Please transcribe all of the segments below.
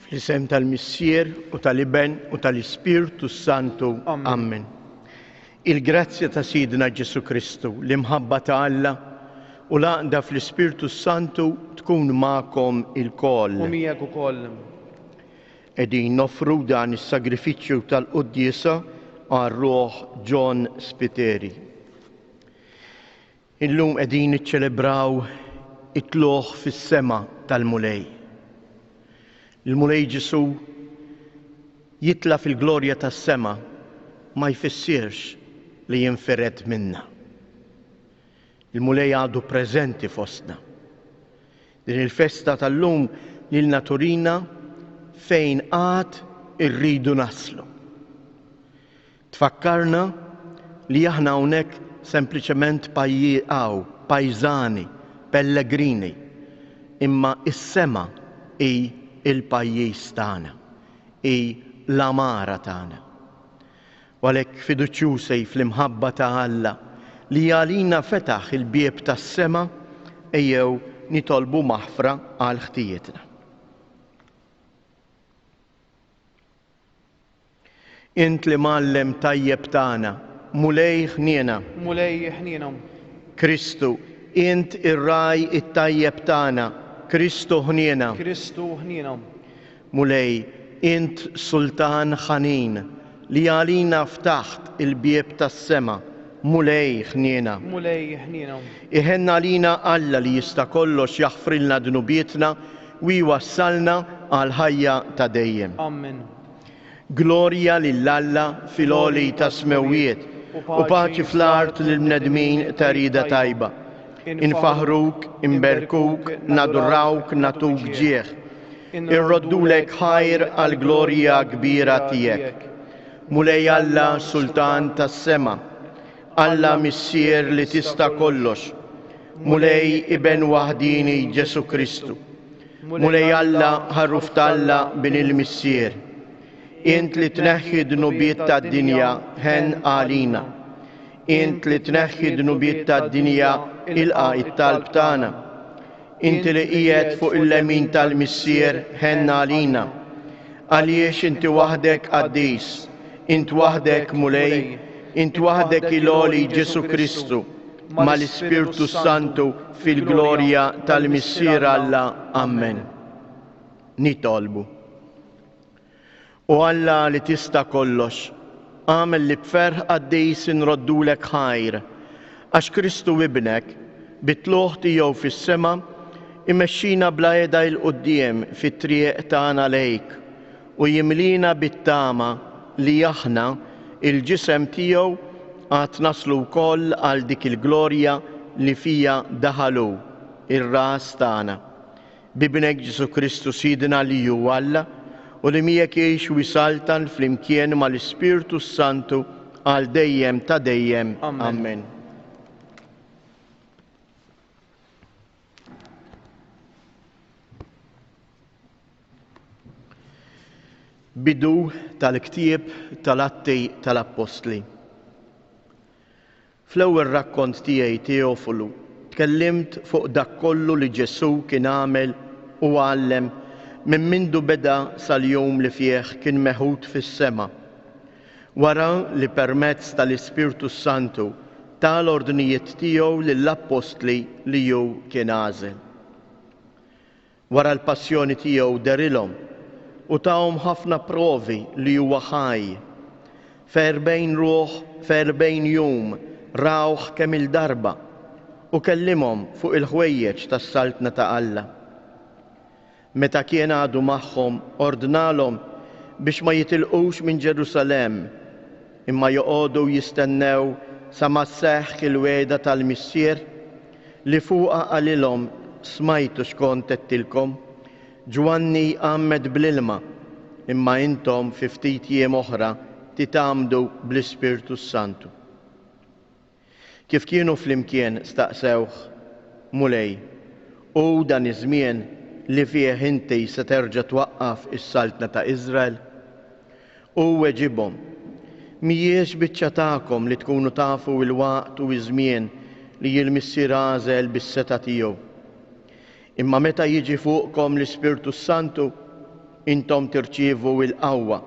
Fl-isem tal-Missier u tal-Iben u tal-Ispirtu s-Santu. Amen. Il-grazzja ta' Sidna Ġesu Kristu, l-imħabba ta' Alla u l-għaqda fl-Ispirtu s-Santu tkun magħkom ilkoll. U miegħek ukoll. Qegħdin noffru dan is-sagrifiċċju tal-quddiesa għar-ruħ John Spiteri. Illum qegħdin niċċelebraw it-tlugħ fis-sema tal-Mulej. Il-Mulej Ġesù jitla' fil-glorja tas-sema ma jfissirx li jinfired minna. Il-Mulej għadu preżenti fostna. Din il-festa tal-lum lilna turina fejn għad irridu naslu. Tfakkarna li aħna hawnhekk sempliċement pajjieqaw, pajżani, pellegrini, imma s-sema hi l-pajjiż tagħna, hi l-għamara tagħna. U għalhekk fiduċjużi fl-imħabba ta' Alla li għalina fetaħ il-bieb tas-sema, ejjew nitolbu maħfra għal ħtijietna. Int l-Imgħallem tajjeb tagħna, Mulej ħniena. Mulej ħniena. Kristu, Int ir-Ragħaj it-tajjeb tagħna, Kristu ħniena. Kristu ħniena. Mulej, Int Sultan ħanin, li għalina ftaħt il-bieb tas-sema, Mulej ħniena. Mulej ħniena. Iħenn għalina Alla li jista' kollox jaħfrilna dnubietna u jwassalna għall-ħajja ta' dejjem. Amen. Glorja lil Alla fil-għoli tas-smewwiet, u paċi fl-art lill-bnedmin ta' rieda tajba. Infaħħruk, inberkuk, nadurrawk, nagħtuk ġieħ. Irroddulek ħajr għall-glorja kbira tiegħek. Mulej Alla, Sultan tas-sema. Alla Missier li tista' kollox. Mulej Iben waħdieni Ġesù Kristu. Mulej Alla, ħarruf t'Alla, bin il-Missier, int li tneħħi d-dnubiet tad-dinja, ħenn għalina. Int li tneħħi d-dnubiet tad-dinja, ilqa' it-talb tagħna. Inti li qiegħed fuq il-lemin tal-Missier, ħenn għalina. Għaliex inti waħdek qaddis, int waħdek Mulej, int waħdek il-għoli Ġesu Kristu, mal-Ispirtu Santu fil-glorja tal-Missier Alla. Amen. Nitolbu. U Alla li tista' kollox, għamel li b'ferħ qaddis inroddulek ħajr, għax Kristu ibnek, bitluħ tiegħu fis-sema, imexxina bla eda il-quddiem fit-triq tagħna lejk u jimliena bit-tama li aħna, il-ġisem tiegħu, għad naslu wkoll għal dik il-glorja li fiha daħal hu, ir-Ras tagħna. B'Ibnek Ġesù Kristu Sidna li hu Alla u li miegħek jgħix u jsaltan flimkien mal-Ispirtu s-Santu għal dejjem ta' dejjem. Ammen. Bidu tal-ktieb tal-Atti tal-Appostli. Fl-ewwel rakkont tiegħi Teofulu tkellimt fuq dak kollu li Ġesù kien għamel u għallem minn mindu beda sal-jum li fih kien meħud fis-sema. Wara li permezz tal-Ispirtu s-Santu ta l-ordnijiet tiegħu lill-appostli li hu kien għażel. Wara l-passjoni tiegħu derilhom u tahom ħafna provi li huwa ħaj. F'erbgħin ruħ, f'erbgħin jum rawh kemm-il darba u kellimhom fuq il-ħwejjeġ tas-Saltna ta' Alla. Meta kien għadu magħhom ordnalhom biex ma jitilqux minn Ġerusalemm, imma joqogħdu jistennew sa ma sseħħ il-wegħda tal-Missier, li fuqha qalilhom, Smajtu x'kont għedtilkom, Ġwanni jgħammed bl-ilma, imma intom fi ftit jiem oħra titgħammdu bl-Ispirtu s-Santu. Kif kienu flimkien, staqsewh, Mulej, hu dan iż-żmien li fih inti se terġa' twaqqaf is-saltna ta' Iżrael? Hu weġibhom, M'hijiex biċċa tagħkom li tkunu tafu l-waqt u ż-żmien li l-Missier għażel bis-setgħa tiegħu. Imma meta jiġi fuqkom l-Ispirtu s-Santu, intom tirċievu l-qawwa,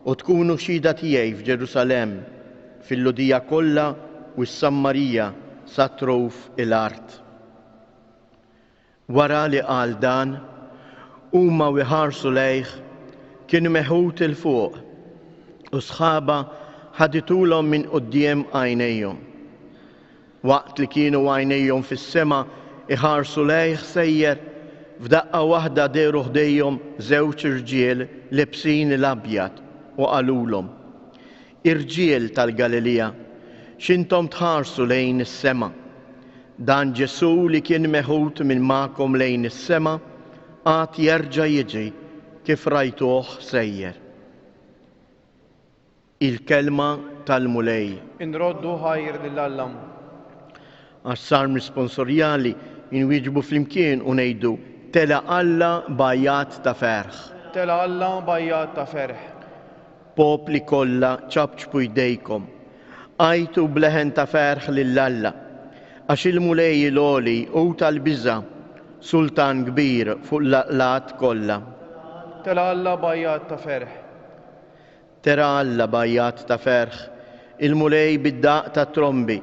u tkunu xhieda tiegħi f'Ġerusalemm, fil-Lhudija kollha u s-Sammarija sa truf il-art. Wara li qal dan, huma u jħarsu lejh, kien meħud 'il fuq, u sħaba ħadithulhom minn quddiem għajnejhom. Waqt li kienu għajnejhom fis-sema jħarsu lejh sejjer, f'daqqa waħda dehru ħdejhom żewġ irġiel liebsin l-abjad u qalulhom, Irġiel tal-Galilija, x'intom tħarsu lejn is-sema? Dan Ġesù li kien meħud minn magħkom lejn is-sema għad jerġa' jiġi kif rajtuh sejjer. Il-Kelma tal-Mulej. Inroddu ħajr lil Alla. Għas-Salm Risponsorjali inwieġbu flimkien u ngħidu, Tela' Alla b'għajjat ta' ferħ. Tela' Alla b'għajjat ta' ferħ. Popli kollha, ċapċpu jdejkom, għajtu b'leħen ta' ferħ lil Alla, għax il-Mulej il-Għoli hu tal-biża', Sultan kbir fuq l-għaqlgħat kollha. Tela' Alla b'għajjat ta' ferħ. Tela' Alla b'għajjat ta' ferħ, il-Mulej bid-daqq tat-trombi.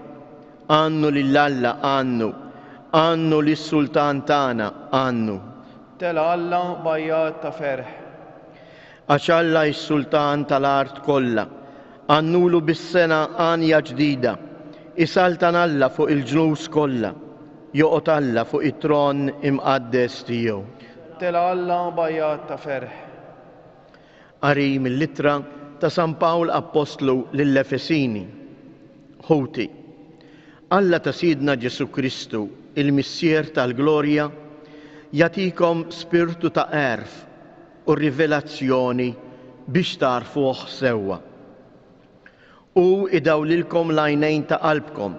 Għannu lil Alla, għannu, għannu lis-Sultan tagħna, għannu. Tela' Alla b'għajjat ta' ferħ. Għax Alla hi s-Sultan tal-art kollha. Għannulu bis-sengħa għanja ġdida. Isaltan Alla fuq il-ġnus kollha. Joqgħod Alla fuq it-tron imqaddes tiegħu. Tela' Alla b'għajjat ta' ferħ. Qari mill-Ittra ta' San Pawl Appostlu lill-Efesini Ħuti, Alla ta' Sidna Ġesù Kristu, il-Missier tal-glorja, jagħtikom spirtu ta' għerf, u r-rivelazzjoni biex tagħrfuh sewwa. Hu idawlilkom l-għajnejn ta' qalbkom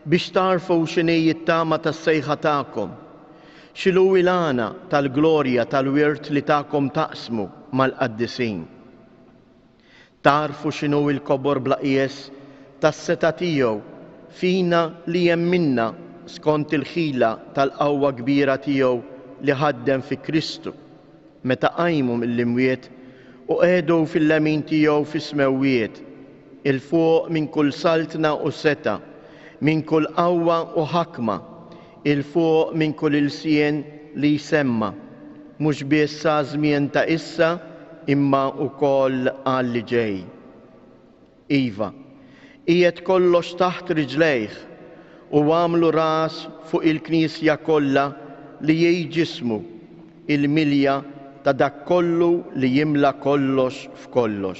biex tagħrfu x'inhi t-tama tas-sejħa tagħkom, x'inhu l-għana tal-glorja tal-wirt li takom taqsmu mal-qaddisin. Tagħrfu x'inhu l-kobor bla qies tas-setgħa tiegħu fina li jemminna skont il-ħila tal-qawwa kbira tiegħu li ħaddem fi Kristu, meta qajmu mill-imwiet u qegħdu fil-lemin tiegħu fis-smewwiet, 'il fuq minn kull saltna u setgħa, minn kull qawwa u ħakma, 'il fuq minn kull ilsien li jsemma', mhux biss għaż-żmien ta' issa imma wkoll għalli ġej. Iva, qiegħed kollox taħt riġlejh u għamlu ras fuq il-Knisja kollha li hi ġismu, il-milja ta' dak kollu li jimla kollox f'kollox.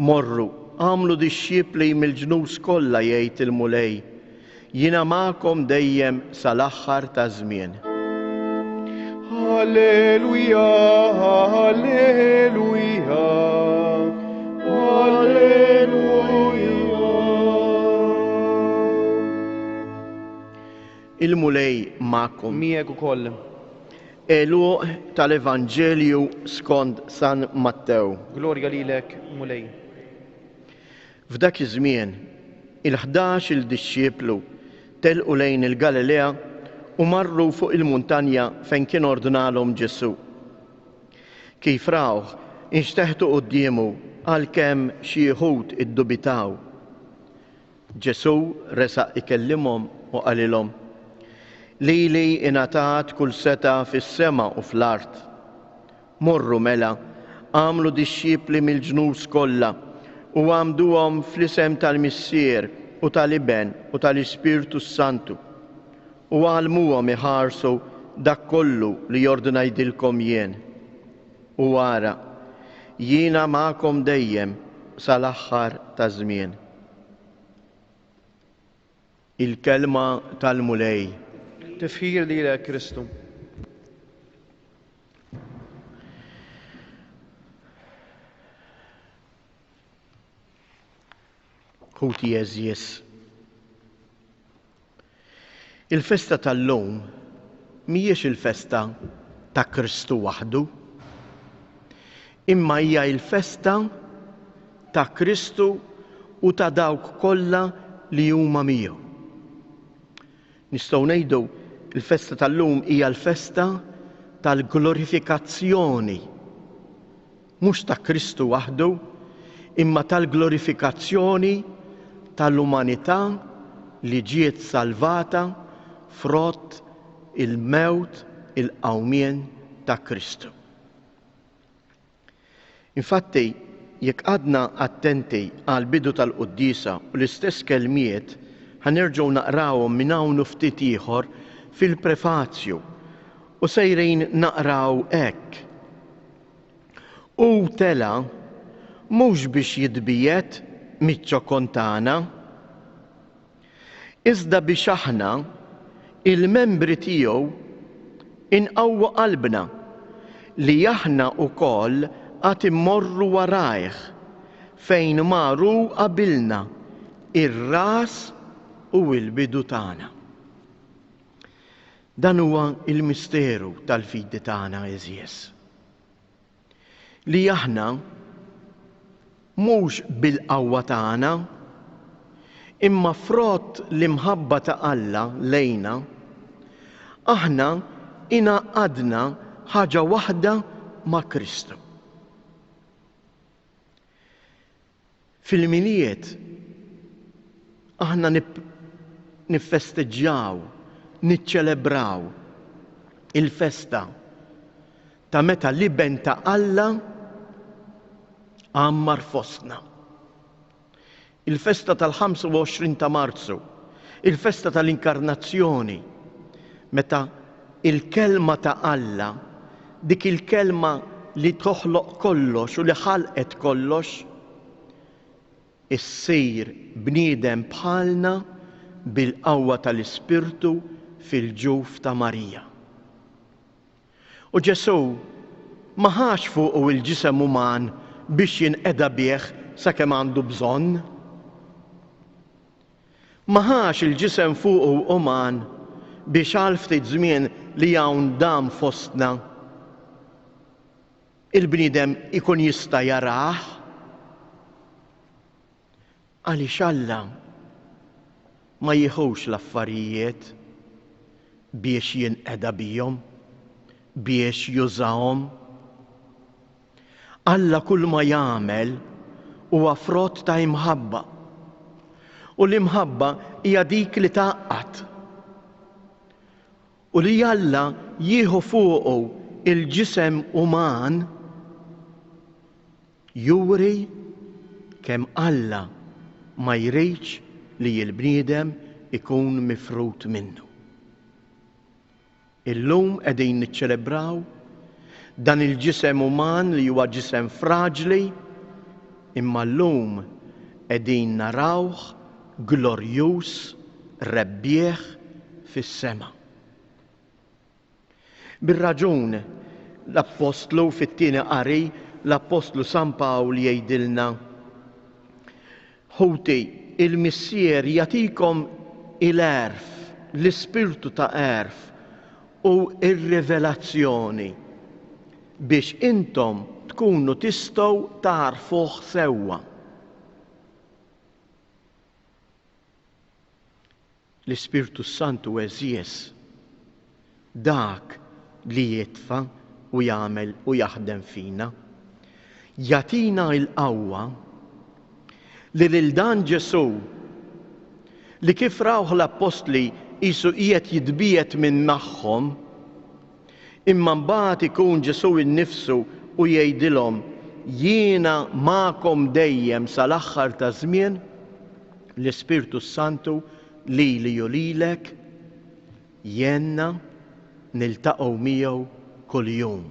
Morru, agħmlu dixxipli mill-ġnus kollha jgħid il-Mulej, jiena magħkom dejjem sal-aħħar taż-żmien. Alleluja, alleluja, alleluja. Il-Mulej magħkom. Miegħek ukoll. Għeluq tal-Evanġelju skond San Mattew. Glorja lilek, Mulej. F'dak iż-żmien, il-ħdax il dixxieplu telqu lejn il-Galilea u marru fuq il-muntanja fejn kien ordnalhom Ġesù. Kif rawh, inxteħtu quddiemu għalkemm xi wħud iddubitaw. Ġesù resaq ikellimhom u qalilhom, Lili ingħatat kull setgħa fis-sema u fl-art. Morru mela, agħmlu dixxipli mill-ġnus kollha, u għammduhom fl-isem tal-Missier u tal-Iben u tal-Ispirtu s-Santu, u għallmuhom iħarsu dak kollu li jordnajdilkom jien. U ara, jiena magħkom dejjem sal-aħħar taż-żmien. Il-Kelma tal-Mulej. Tifħir lilek, Kristu. Ħuti għeżież. Il-festa tal-lum mhijiex il-festa ta' Kristu waħdu, imma hija l-festa ta' Kristu u ta' dawk kollha li huma miegħu. Nistgħu ngħidu l-festa tal-lum hija l-festa tal-glorifikazzjoni mhux ta' Kristu waħdu, imma tal-glorifikazzjoni tal-umanità li ġiet salvata frott il-mewt il-qawmien ta' Kristu. Infatti, jekk qgħadna attenti għall-bidu tal-quddiesa u l-istess kelmiet ħa nerġgħu naqrawhom minn hawn u ftit ieħor fil-prefazju u sejrin naqraw hekk, Hu tela' mhux biex jitbiegħed miċ-ċokon tagħna, iżda biex aħna, il-membri tiegħu, inqawwu qalbna li aħna wkoll għad immorru warajh fejn mar hu qabilna, ir-ras u l-bidu tagħna. Dan huwa l-misteru tal-fidi tagħna għeżież, li aħna mhux bil-qawwa tagħna, imma frott l-imħabba ta' Alla lejna, aħna ingħaqqadna ħaġa waħda ma' Kristu. Fil-Milied aħna niffesteġġjaw, niċċelebraw il-festa ta' meta l-Iben ta' Alla għammar fostna. Il-festa tal-25 ta' Marzu, il-festa tal-Inkarnazzjoni, meta il-Kelma ta' Alla, dik il-Kelma li toħloq kollox u li ħalqet kollox, issir bniedem bħalna bil-qawwa tal-Ispirtu fil-ġuf ta' Marija. U Ġesù ma ħax fuqu l-ġisem uman biex jinqeda bih sakemm għandu bżonn. Ma ħax il-ġisem fuqu uman biex għal ftit żmien li hawn dam fostna, il-bniedem ikun jista' jarah. Għaliex Alla ma jieħux l-affarijiet biex jinqeda bihom, biex jużahom. Alla kull ma jagħmel huwa frott ta' imħabba. U l-imħabba hija dik li tgħaqqad. U li Alla jieħu fuqu il-ġisem uman juri kemm Alla ma jridx li l-bniedem ikun mifrud minnu. Illum qegħdin niċċelebraw dan il-ġisem uman li huwa ġisem fraġli, imma llum qegħdin narawh glorjuż, rebbieħ fis-sema. Bir-raġun, l-appostlu, fit-Tieni Qari, l-appostlu San Pawl jgħidilna, Ħuti, il-Missier jagħtikom il-għerf, l-ispirtu ta' għerf u r-rivelazzjoni, biex intom tkunu tistgħu tagħrfuh sewwa. L-Ispirtu s-Santu għeżież, dak li jitfa' u jagħmel u jaħdem fina, jagħtina l-qawwa li lil dan Ġesù, li kif rawh l-Appostli qisu qiegħed jitbiegħed minn magħhom, Imma mbagħad ikun Ġesù nnifsu u jgħidilhom, Jiena magħkom dejjem sal-aħħar taż-żmien? L-Ispirtu s-Santu lili u lilek jgħinna niltaqgħu miegħu kuljum.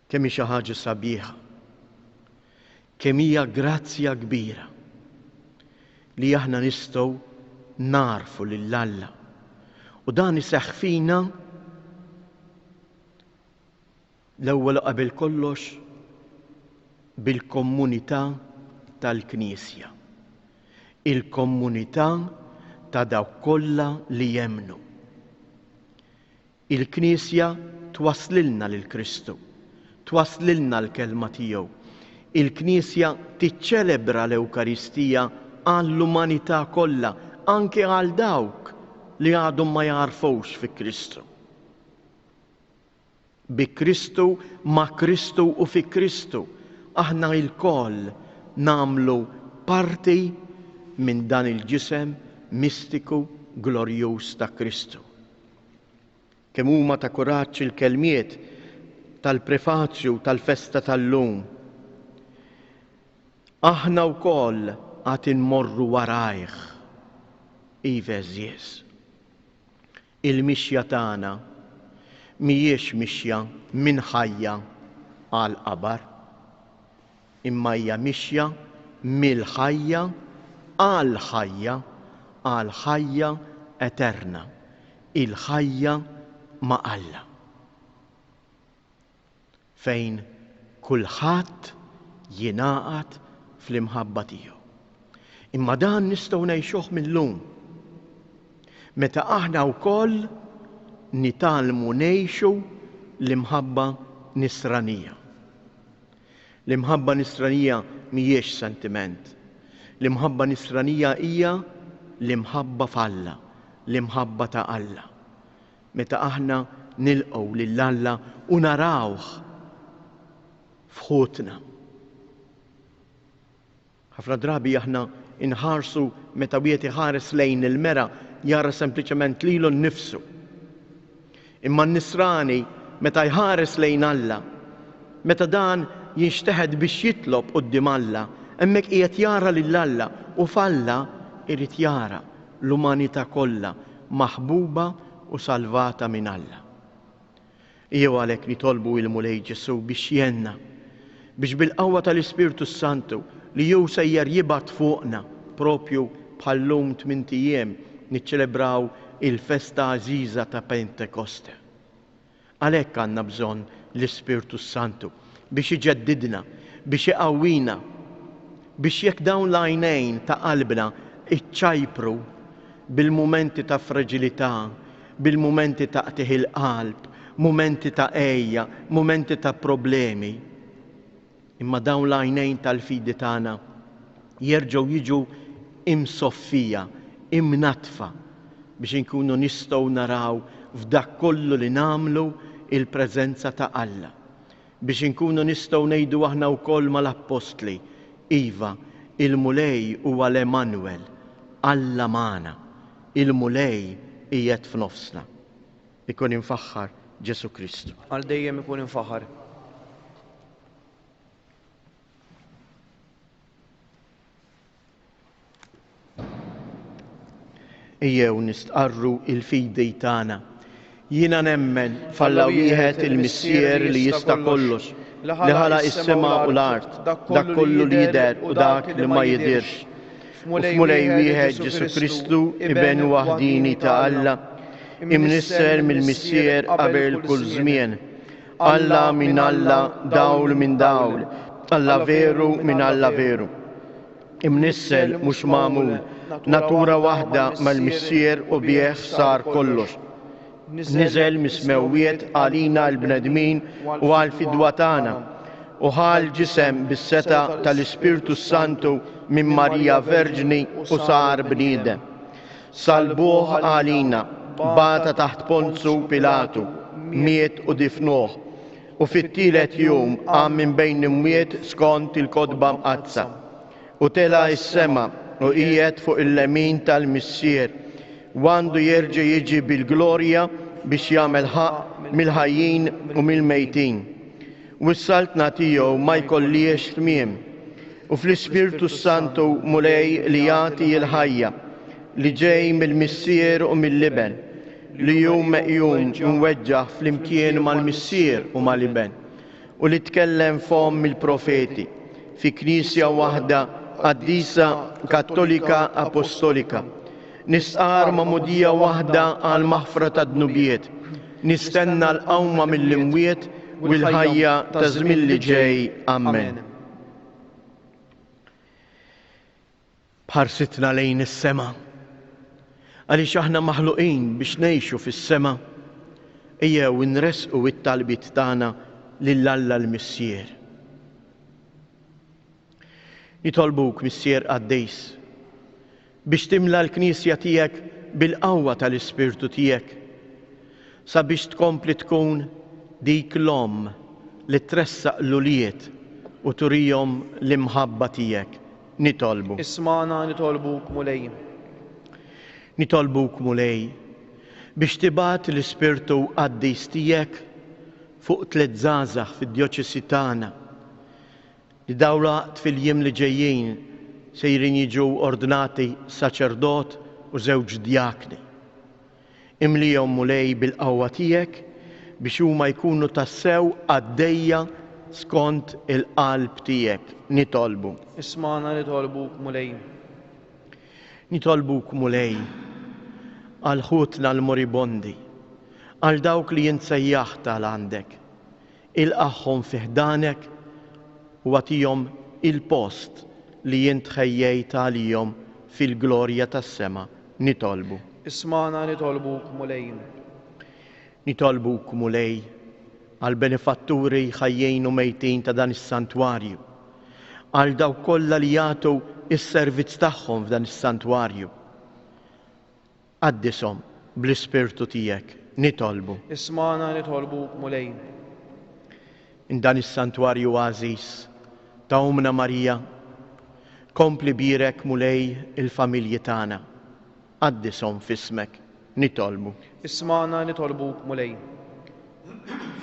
Kemm hi xi ħaġa sabiħa, kemm hija grazzja kbira li aħna nistgħu nagħrfu lil Alla u dan iseħħ fina l-ewwel u qabel kollox bil-kommunità tal-Knisja, il-kommunità ta' dawk kollha li jemmnu. Il-Knisja twasslilna lil Kristu, twasslilna l-Kelma tiegħu. Il-Knisja tiċċelebra l-Ewkaristija għall-umanità kollha, anke għal dawk li għadhom ma jagħrfux fi Kristu. Bi Kristu, ma' Kristu u fi Kristu, aħna lkoll nagħmlu parti minn dan il-ġisem mistiku glorjuż ta' Kristu. Kemm huma ta' kuraġġ il-kelmiet tal-prefaċju tal-festa tal-lum. Aħna wkoll għad inmorru warajh. Iva eżież. Il-mixja tagħna mhijiex mixja minn ħajja għal qabar. imma hija mixja mill-ħajja għall-ħajja, għall-ħajja eterna, il-ħajja ma' Alla, fejn kulħadd jingħaqad fl-imħabba tiegħu. Imma dan nistgħu ngħixuh mil-lum, meta aħna wkoll nitgħallmu ngħixu l-imħabba nisranija. L-imħabba Nisranija mhijiex sentiment. L-imħabba Nisranija hija l-imħabba f'Alla, l-imħabba ta' Alla. Meta aħna nilqgħu lil Alla u narawh f'ħutna. Ħafna drabi aħna nħarsu, meta wieħed iħares lejn il-mera, jara sempliċement lilu nnifsu. Imma n-nisrani, meta jħares lejn Alla, meta dan jinxteħet biex jitlob quddiem Alla, hemmhekk qiegħed jara lil Alla u f'Alla irid jara l-umanità kollha maħbuba u salvata minn Alla. Ejjew għalhekk nitolbu il-Mulej Ġesù biex jgħinna, biex bil-qawwa tal-Ispirtu s-Santu li hu sejjer jibgħat fuqna proprju bħal-lum tmint ijiem niċċelebraw il-festa għażiża ta' Pentekoste. Għalhekk għandna bżonn l-Ispirtu s-Santu biex iġeddidna, biex iqawwina, biex jekk dawn l-għajnejn ta' qalbna iċċajpru bil-mumenti ta' fraġilità bil-mumenti ta' qtigħ il-qalb, mumenti ta' għejja, mumenti ta' problemi. Imma dawn l-għajnejn tal-fidi tagħna jerġgħu jiġu imsoffija, imnaddfa biex inkunu nistgħu naraw f'dak kollu li nagħmlu il-preżenza ta' Alla. Biex inkunu nistgħu ngħidu aħna wkoll mal-appostli, Iva, il-Mulej huwa l-Għemanwel, Alla magħna, il-Mulej qiegħed f'nofsna. Ikun imfaħħar Ġesù Kristu. Għal dejjem ikun imfaħħar. Ejjew nistqarru il-fidi tagħna. Jiena nemmen f'Alla wieħed il-Missier li jista' kollox, li ħalaq is-sema u l-art, dak kollu li jidher u dak li ma jidhirx. U f'Mulej wieħed Ġesù Kristu, Iben waħdini ta' Alla, imnisser mill-Missier qabel kull żmien. Alla minn Alla, dawl minn dawl, Alla veru minn Alla veru. Imnissel mhux magħmul, natura waħda mal-Missier u bih sar kollox. Niżel mis-smewwiet għalina l-bnedmin u għall-fidwa tagħna, u ħa l-ġisem bis-setgħa tal-Ispirtu s-Santu minn Marija Verġni u sar bniedem. Salbuh għalina, bata taħt Ponzu Pilatu, miet u difnuh, u fit-tielet jum qam minn bejn l-imwiet skont il-Kotba Mqaddsa, u tela' is-sema u qiegħed fuq il-lemin tal-Missier, u għandu jerġa' jiġi bil-glorja biex jagħmel ħaqq mill-ħajjin u mill-mejtin. u s-Saltna tiegħu ma jkollhiex tmiem, u fl-Ispirtu s-Santu Mulej li jagħti l-ħajja, li ġej mill-Missier u mill-Iben, li hu meqjum u mweġġaħ flimkien mal-Missier u mal-Iben, u li tkellem fomm il-profeti, fi Knisja waħda qaddisa kattolika apostolika, Nistqar magħmudija waħda għall-maħfra tad-dnubiet, nistenna l-qawma mill-imwiet u l-ħajja taż-żmien li ġej. Ammen. Bħarsitna lejn is-sema. Għaliex aħna maħluqin biex ngħixu fis-sema, ejjew inresqu it-talbiet tagħna lil Alla l-Missier. Nitolbuk, Missier Qaddis, biex timla l-Knisja tiegħek bil-qawwa tal-Ispirtu tiegħek, sabiex tkompli tkun dik l-omm li tressaq l-ulied u turihom l-imħabba tiegħek. Nitolbu. Ismagħna, nitolbuk, Mulej. Nitolbuk, Mulej, biex tibgħat l-Ispirtu Qaddis tiegħek fuq tliet żgħażagħ fid-djoċesi tagħna Id-dawlaqt fil-jiem li ġejjin sejrin jiġu ordnati saċerdot u żewġ djakni. Imlihom, Mulej, bil-qawwa tiegħek biex huma jkunu tassew qaddejja skont il-qalb tiegħek, nitolbu. Ismagħna nitolbuk, Mulej. Nitolbuk, Mulej, għal ħutna l-moribondi, għal dawk li int sejjaħt għal għandek. Ilqagħhom fi ħdanek u agħtihom il-post li int ħejjejt għalihom fil-glorja tas-sema, nitolbu. Ismagħna nitolbuk, Mulej. Nitolbuk, Mulej, għall-benefatturi ħajjin u mejtin ta' dan is-santwarju, għal dawk kollha li jagħtu s-servizz tagħhom f'dan is-santwarju, Qaddishom bl-Ispirtu tiegħek, nitolbu. Ismagħna nitolbuk, Mulej. In dan is-santwarju għażiż ta' Ommna Marija, kompli bierek, Mulej, il-familji tagħna. Qaddishom f'ismek, nitolbu. Ismagħna nitolbuk, Mulej.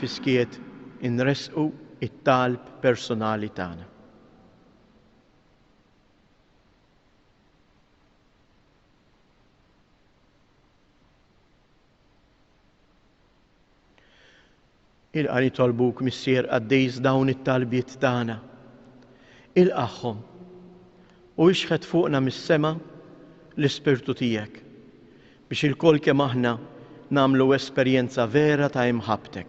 Fis-skiet inressqu t-talb persunali tagħna. Ilqa nitolbuk missier qaddis dawn it-talbiet tagħna. Ilqaħħom u ixħet fuqna mis-sema l-ispirtu tiegħek biex ilkoll kemm aħna nagħmlu esperjenza vera ta' imħabbtek.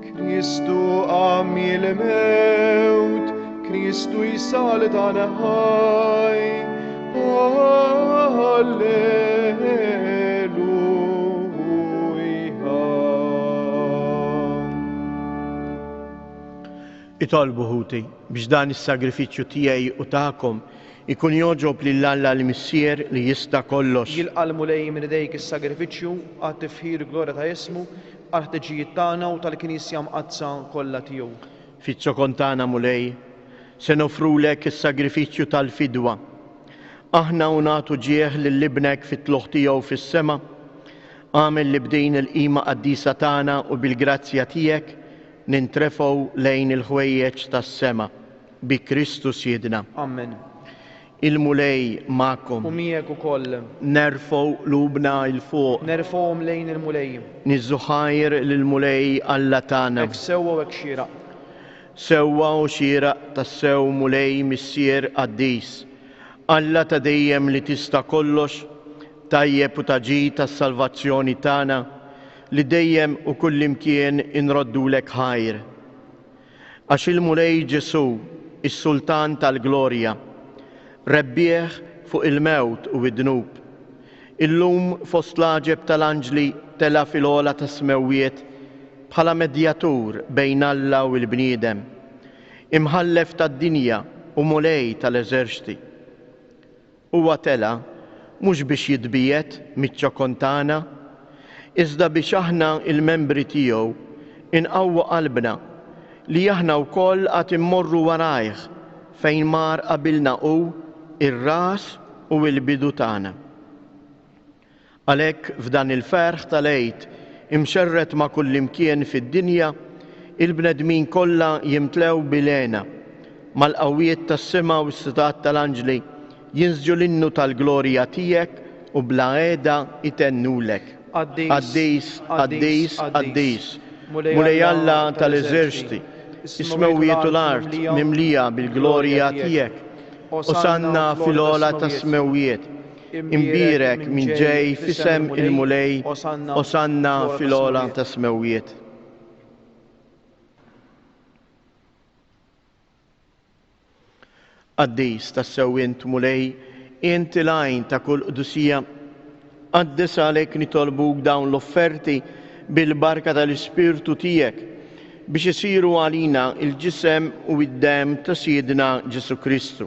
Kristu qam il-mewt, Kristu jsal dan ħaj. Itolbu ħuti biex dan is-sagrifiċċju tiegħi u tagħkom ikun joġob lil Alla l-Missier li jista' kollox. Jilqalmu lej minn idejk is-sagrifiċċju għat-tifħir glorja ta' ismu għall-ħtiġijiet tagħna u tal-Knisja Mqaddsa kollha tiegħu. Fiż-zokon tagħna, Mulej, se noffrulek is-sagrifiċċju tal-fidwa. Aħna u nagħtu ġieħ lil Ibnek fit-tlugħ tiegħu fis-sema, agħmel li b'din il-qima qaddisa tagħna u bil-grazzja tiegħek nintrefgħu lejn il-ħwejjeġ tas-sema. Bi Kristu Sidna. Amen. Il-Mulej magħkom. Hu miegħek ukoll. Nerfgħu qlubna 'il fuq. Nerfgħuhom lejn il-Mulej. Nieżżu ħajr lill-Mulej Alla tagħna. Hekk sewwa u hekk xieraq. Sewwa u xieraq tassew Mulej Missier qaddis, Alla ta' dejjem li tista' kollox, tajjeb u ta' ġid għas-salvazzjoni tagħna, li dejjem u kullimkien inroddulek ħajr. Għax il-Mulej Ġesù, is-Sultan tal-Glorja, rebbieħ fuq il-mewt u d-dnub, illum fost l-għaġeb tal-anġli tela' fil-għola tas-smewwiet bħala medjatur bejn Alla u l-bniedem, Imħallef tad-dinja u Mulej tal-eżerċti. Huwa tela' mhux biex jitbiegħed miċ-ċokon tagħna, iżda biex aħna, il-membri tiegħu, inqawwu qalbna li aħna wkoll għad immorru warajh fejn mar qabilna hu, ir-ras u l-bidu tagħna. Għalhekk f'dan il-ferħ tal-Għid imxerred ma' kullimkien fid-dinja, il-bnedmin kollha jimtlew bil-hena. Mal-qawwiet tas-sema u s-sitat tal-anġli jinsġu l-innu tal-glorja tiegħek u bla għeda jtennulek, Qaddis, qaddis, qaddis, Mulej Alla tal-eżerċti, is-smewwiet u l-art mimlija bil-glorja tiegħek, Osanna fil-ogħla tas-smewwiet. Imbierek min ġej f'isem il-Mulej, Osanna fil-għola tas-smewwiet. Qaddis tassew int Mulej, int il-għajn ta' kull qdusija. Qaddis għalhekk nitolbuk dawn l-offerti bil-barka tal-Ispirtu tiegħek biex isiru għalina il-ġisem u id-dem ta' Sidna Ġesu Kristu.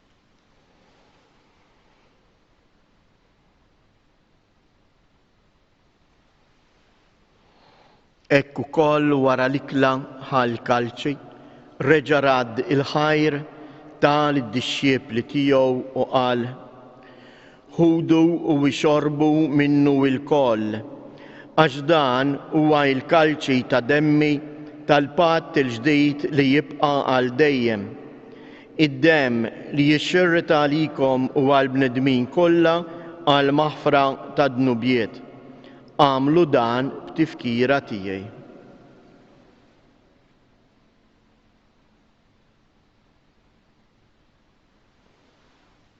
Hekk ukoll wara l-ikla ħal kalċi reġa' radd il-ħajr ta' lid-dixxiepli tiegħu u qal, Ħudu u ixorbu minnu ilkoll, għax dan huwa l-kalċi ta' demmi tal-patt il-ġdid li jibqa' għal dejjem. Id-demm li jixxirrid għalikom u għall-bnedmin kollha għall-maħfra tad-dnubiet. Agħmlu dan b'tifkira tiegħi.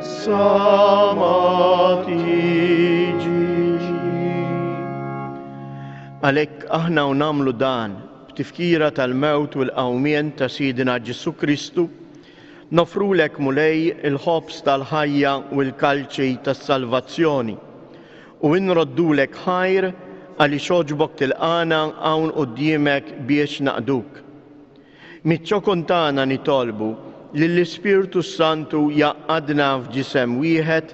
Sa ma tiġi. Għalhekk aħna u nagħmlu dan b'tifkira tal-mewt u l-qawmien ta' Sidina Ġesu Kristu, nofrulek Mulej il-ħobż tal-ħajja u l-kalċi tas-salvazzjoni, u inroddulek ħajr għaliex għoġbok tilqagħna hawn quddiemek biex naqduk. Miċ-ċokon tagħna nitolbu lill-Ispirtu s-Santu jgħaqqadna f'ġisem wieħed,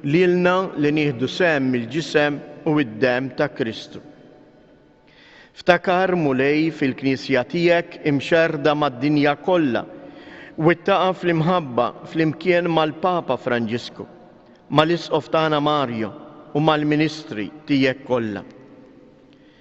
lilna li nieħdu sehem mill-ġisem u d-demm ta' Kristu. Ftakar, Mulej, fil-Knisja tiegħek imxerrda mad-dinja kollha, wittaqha fl-imħabba flimkien mal-Papa Franġisku, mal-Isqof tagħna Mario u mal-ministri tiegħek kollha.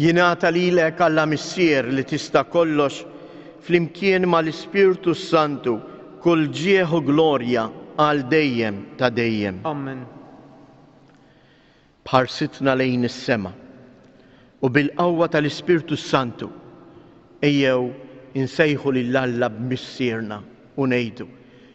Jingħata lilek Alla Missier li tista' kollox, flimkien mal-Ispirtu s-Santu, kull ġieħ u glorja għal dejjem ta' dejjem. Amen. B'ħarsitna lejn is-sema u bil-qawwa tal-Ispirtu s-Santu, ejjew insejħu lil Alla b'Missierna u ngħidu,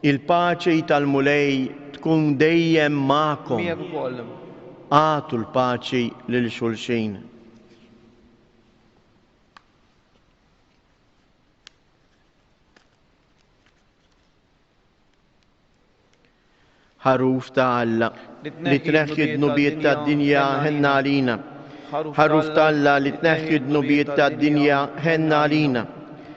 Il-paċi tal-Mulej tkun dejjem magħkom. Miegħek ukoll. Agħtu l-paċi lil xulxin. Ħaruf ta' Alla li tneħħi d-dnubiet tad-dinja ħenna għalina. Ħaruf ta' Alla li tneħħi d-dnubiet tad-dinja ħenna għalina.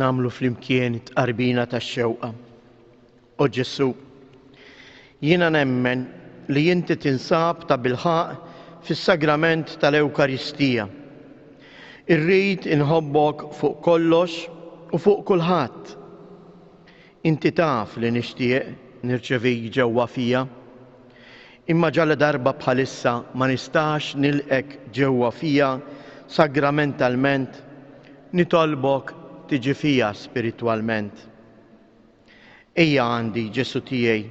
Namlu flimkien it-tqarbina tax-xewqa. O Ġesu, jiena nemmen li inti tinsab ta' bilħaq fis-sagrament tal-Ewkaristija. Irrid inħobbok fuq kollox u fuq kulħadd. Inti taf li nixtieq nirċevik ġewwa fija. Imma ġaladarba bħalissa ma nistax nilqgħek ġewwa fija sagramentalment, nitolbok tiġi fija spiritwalment. Ejja għandi, Ġesù tiegħi,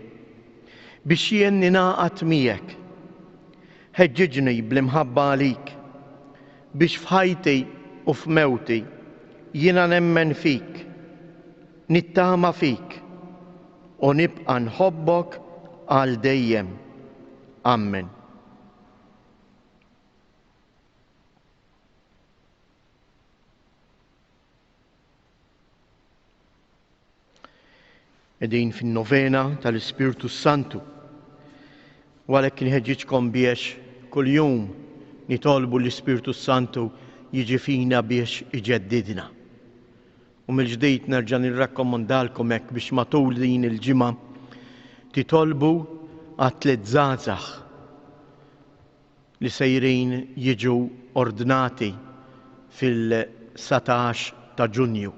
biex jien ningħaqad miegħek. Ħeġġiġni bl-imħabba għalik, biex f'ħajti u f'mewti jiena nemmen fik. Nittama fik, u nibqa' nħobbok għal dejjem. Ammen. Edin fin-novena tal-Ispirtu Santu. U għalhekk inħeġġiġkom biex kuljum nitolbu l-Ispirtu Santu jiġi fina biex iġeddidna. U mill-ġdid nerġa' nirrakkomandalkom hekk biex matul din il-ġimgħa titolbu għat-tliet żgħażagħ li sejrin jiġu ordnati fil-dsatax ta' Ġunju.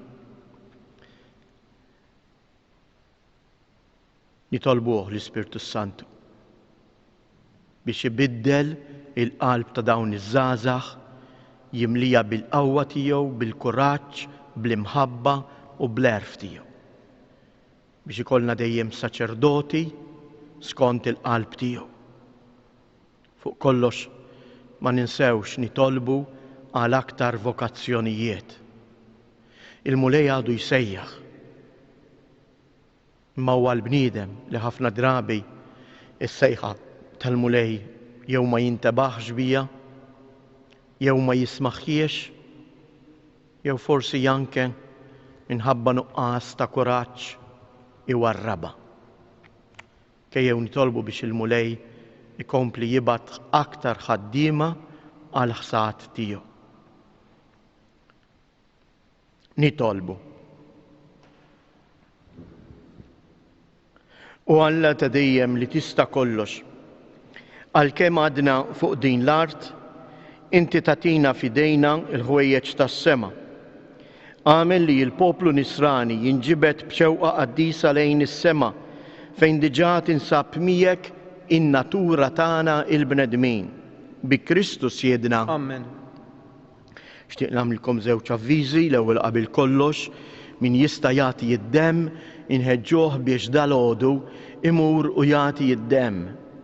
Nitolbuh l-Ispirtu s-Santu biex ibiddel il-qalb ta' dawn iż-żgħażagħ, jimlieha bil-qawwa tiegħu, bil-kuraġġ, bl-imħabba u bl-għerf tiegħu. Biex ikollna dejjem saċerdoti skont il-qalb tiegħu. Fuq kollox ma ninsewx nitolbu għal aktar vokazzjonijiet. Il-Mulej għadu jsejjaħ. Imma huwa l-bniedem li ħafna drabi s-sejħa tal-Mulej jew ma jintebaħx biha, jew ma jismagħhiex, jew forsi anke minħabba nuqqas ta' kuraġġ iwarrabha. Ejjew nitolbu biex il-Mulej ikompli jibgħat aktar ħaddiema għall-ħsad tiegħu. Nitolbu. U Alla ta' dejjem li tista' kollox. Għalkemm għadna fuq din l-art, inti tatina fidejna l-ħwejjeġ tas-sema. Għamel li l-poplu nisrani jinġibed b'xewqa qaddisa lejn is-sema fejn diġà tinsab miegħek in-natura tagħna il-bnedmin. Bi Kristu Siedna. Amen. Xtieq nagħmlilkom żewġ avviżi, l-ewwel qabel kollox, min jista' jagħti id-demm inħeġġuh biex dalgħodu imur u jagħti id-demm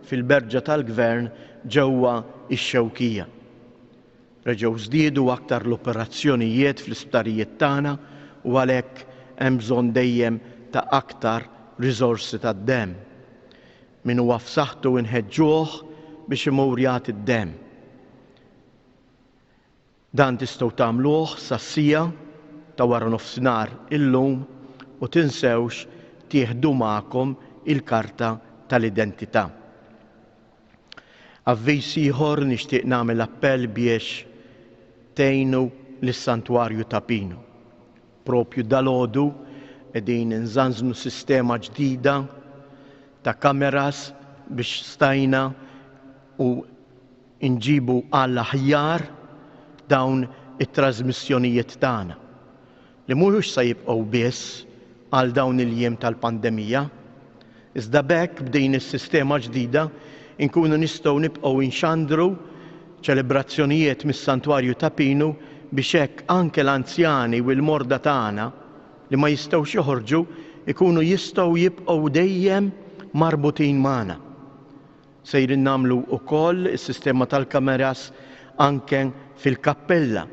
fil-Berġa tal-Gvern ġewwa x-Xewkija. Reġgħu żdiedu aktar l-operazzjonijiet fl-isptarijiet tagħna u għalhekk hemm bżonn dejjem ta' aktar riżorsi tad-demm. Min huwa f'saħħtu inħeġġuh biex imur jagħti d-demm. Dan tistgħu tagħmluh sas-siegħa ta' waranofsinhar illum u tinsewx tieħdu magħkom il-karta tal-identità. Avviż ieħor nixtieq nagħmel appell biex tgħinu lis-Santwarju ta' Pinu. Propju dalgħodu qegħdin inżanżnu sistema ġdida ta' kameras biex stajna u inġibu għall-aħjar dawn it-trażmissjonijiet tagħna, li mhux se jibqgħu biss għal dawn il-jiem tal-pandemija, iżda b'hekk b'din is-sistema ġdida nkunu nistgħu nibqgħu nxandru ċelebrazzjonijiet mis-Santwarju ta' Pinu biex hekk anke l-anzjani u l-morda tagħna li ma jistgħux joħorġu jkunu jistgħu jibqgħu dejjem marbutin magħna. Sejrin nagħmlu wkoll is-sistema tal-kameras anke fil-kappella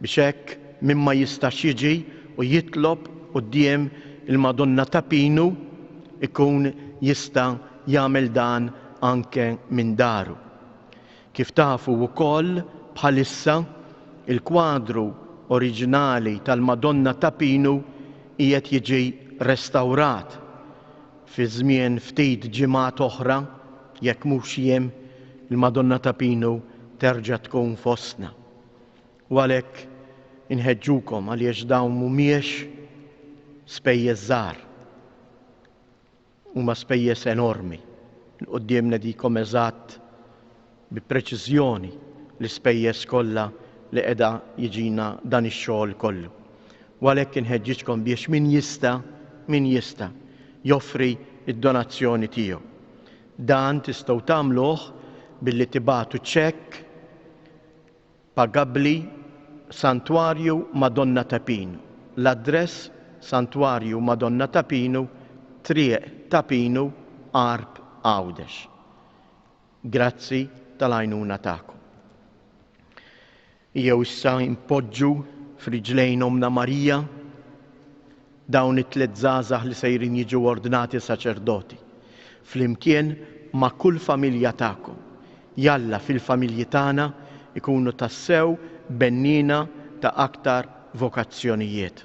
biex hekk min ma jistax jiġi u jitlob quddiem il-Madonna ta' Pinu jkun jista' jagħmel dan anke minn daru. Kif tafu wkoll bħalissa il-kwadru oriġinali tal-Madonna ta' Pinu qiegħed jiġi restawrat. Fi żmien ftit ġimgħat oħra, jekk mhux jiem, il-Madonna ta' Pinu terġa' tkun fostna. U għalhekk inħeġġukom għaliex dawn mhumiex spejjeż żgħar. Huma spejjeż enormi. Il-quddiem nedikom eżatt bi preċiżjoni l-ispejjeż kollha li qiegħda jiġina dan ix-xogħol kollu. U għalhekk inħeġġiġkom biex min jista', min jista', joffri d-donazzjoni tiegħu. Dan tistgħu tagħmluh billi tibagħtu ċekk pagabbli Santwarju Madonna ta' Pinu. L-address, Santwarju Madonna ta' Pinu, Triq ta' Pinu, Għarb Għawdex. Grazzi tal-għajnuna tagħkom. Ejjew issa npoġġu f'riġlejn Ommna Marija dawn it-tliet żgħażagħ li sejrin jiġu ordnati saċerdoti, flimkien ma' kull familja tagħkom. Jalla fil-familji tagħna jkunu tassew benniena ta' aktar vokazzjonijiet.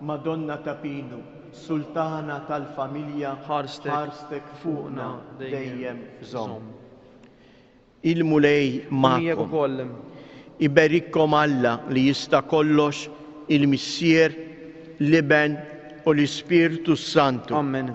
Madonna ta' Pinu, Sultana tal-familja, ħarstek fuqna dejjem żomm. Il-Mulej magħkom. Iberikkom Alla li jista' kollox, il-Missier, l-Iben u l-Ispirtu s-Santu. Ammen.